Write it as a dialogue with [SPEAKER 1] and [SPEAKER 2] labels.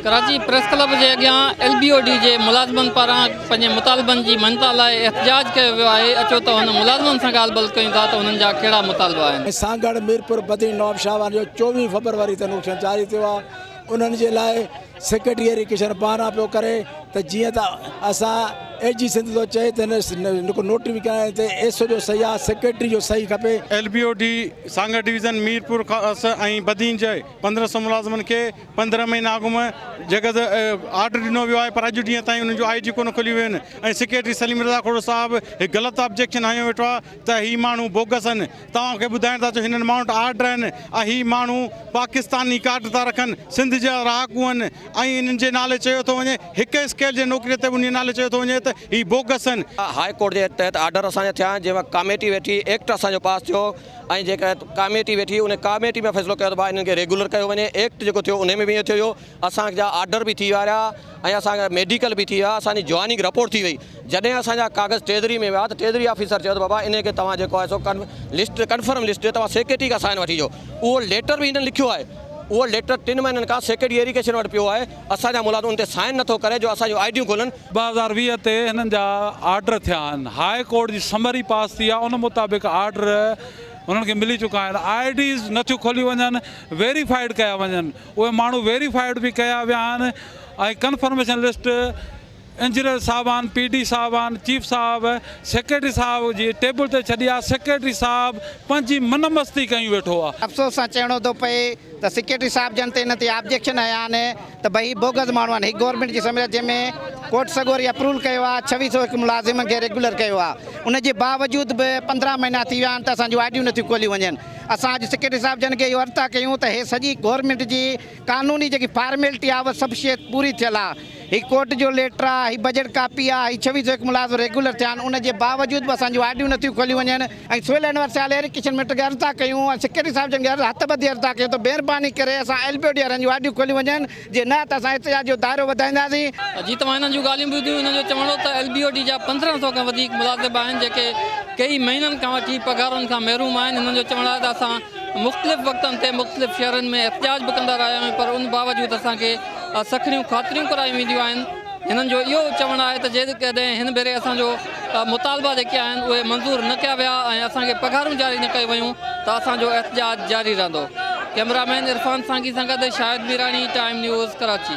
[SPEAKER 1] Karachi press club جي اڳيان L B O D جي ملازمن پاران پنهنجي مطالبن جي مڃتا لاء احتجاج ڪيو ويو آهي اچو ته هن ملازمن سان ڳالهه ٻولهه ڪيون ٿا ته هنن جا ڪهڙا مطالبا آهن. سانگهڙ، ميرپور
[SPEAKER 2] بدين نواب شاهه وارن جو چوويهه فبروري تي نوٽيشن جاري ٿيو آهي انهن جي لاء سيڪريٽري ڪشن بهانا پيو ڪري ته جيئن ته اسان اي جي سنڌ ٿو چئي ته هن نوٽيفڪيشن تي ايس او جو صحيح آ سيڪريٽري جو صحيح کپي. L B O D
[SPEAKER 3] Sanghar division Mirpur کان اس ۽ بدين جي پندرهن سؤ ملازمن کي پندرهن مهينا اڳ م جيڪر ته آرڊر ڏنو ويو آهي پر اڄ ڏينهن تائين ان جون آئي ڊي ڪونه کليون ويون آهن ۽ سيڪريٽري سليم رضا کهڙو صاحب هڪ غلط آبجيڪشن هنيو ويٺو آهي ته هي ماڻهو بوگس آهن توهان کي ٻڌائڻ ٿا چون هنن ماڻهن وٽ آرڊر آهن ۽ هي ماڻهو پاڪستاني ڪارڊ ٿا رکن سنڌ جا رهاڪو آهن ۽ انهن جي نالي چيو ٿو وڃي هڪ اسڪيل جي نوڪري تي به انهي نالي چيو ٿو وڃي ته هي بوگس آهن. هاء ڪورٽ جي تحت
[SPEAKER 4] آرڊر اسان جا ٿيا آهن جنهن ۾ ڪاميٽي ويٺي ايڪٽ اسان جو پاس ٿيو. ۽ جيڪا ڪاميٽي ويٺي ان ڪاميٽي ۾ فيصلو ڪيو ته ڀاء انهن کي ريگيولر ڪيو وڃي ايڪٽ جيڪو ٿيو ان ۾ به ائين ٿيو هيو اسان جا آرڊر به ٿي ويا رهيا ۽ اسان جا ميڊيڪل به ٿي ويا اسان جي جوائننگ رپورٽ ٿي وئي جڏهن اسان جا ڪاغذ ٽريزري ۾ ويا ته ٽريزري آفيسر چيو ته بابا انهن کي توهان جيڪو آهي سو لسٽ ڪنفرم لسٽ تي توهان سيڪريٽري کان سائن وٺي اچو اهو ليٽر به هنن لکيو آهي اهو ليٽر ٽن مهينن کان سيڪريٽري ايريگيشن وٽ پيو آهي اسان جا ملازم ان تي سائن نٿو ڪري جو اسان جون آئي ڊيون کولن. ٻه هزار ويهه تي
[SPEAKER 5] هنن جا آرڊر ٿيا آهن، هاء ڪورٽ جي سمري پاس ٿي آهي ان مطابق آرڊر هنن کي ملي چڪا آهن، آئي ڊيز نٿيون کوليون وڃن، ويريفائيڊ ڪيا وڃن، اهي ماڻهو ويريفائيڊ به ڪيا ويا آهن ۽ ڪنفرميشن لسٽ. انجنيئر صاحبان، پي ڊي صاحبان، چيف صاحب، سيڪريٽري صاحب جي ٽيبل تي ڇڏي آ، سيڪريٽري صاحب پنهنجي من مستي ڪيون ويٺو آ. افسوس سان چئڻو ٿو
[SPEAKER 6] پئي ته سيڪريٽري صاحب جن تي ان تي آبجيڪشن هنيا آهن ته ڀئي هي بوگس ماڻهو آهن، هي گورنمينٽ جي سميت جنهن ۾ ڪورٽ سڳوري اپروول ڪيو آ، ڇويهه سؤ هڪ ملازمن کي ريگيولر ڪيو آ، ان جي باوجود به پندرهن مهينا ٿي ويا آهن ته اسان جون آئيڊيون نٿيون کوليون وڃن، اسان اڄ سيڪريٽري صاحب جن کي اهو ارتقا ڪيون ته هي سڄي گورنمينٽ جي قانوني جيڪي فارميلٽي آهي اها سڀ شيء پوري ٿيل آهي. هي ڪورٽ جو ليٽر آهي، هي بجيٽ ڪاپي آهي، هي ڇويهه سؤ هڪ ملازم ريگيولر ٿيا آهن، ان جي باوجود به اسان جون آرڊيون نٿيون کوليون وڃن ۽ سول اينور سيال ايئر ڪشن مٽ کي عرضدار ڪيون ۽ سيڪريٽري صاحب جن کي عرض هٿ ٻڌي عرضدار ڪيون ته مهرباني ڪري اسان ايل بي او ڊي وارن جون آرڊيون کوليون وڃن جي نه ته اسان احتجاج جو دائرو وڌائينداسين. جي توهان هنن جون
[SPEAKER 1] ڳالهيون ٻڌيون هنن جو چوڻ هو ته ايل بي او ڊي جا پندرهن سؤ کان وڌيڪ ملازم آهن جيڪي ڪيئي مهينن کان وٺي پگهارن کان محروم آهن هنن جو چوڻ آهي ته اسان مختلف وقتن تي مختلف شهرن ۾ احتجاج به ڪندا رهيا آهيون پر ان باوجود اسان کي سکڻيون خاطريون ڪرايون وينديون آهن هنن جو اهو چوڻ آهي ته جيڪڏهن هن ڀيري اسان جو مطالبا جيڪي آهن اهي منظور نه ڪيا ويا ۽ اسان کي پگهارون جاري نه ڪيون ويون ته اسان جو احتجاج جاري رهندو ڪئميرا مين عرفان سانگي سان گڏ شاهد ميراڻي ٽائيم نيوز ڪراچي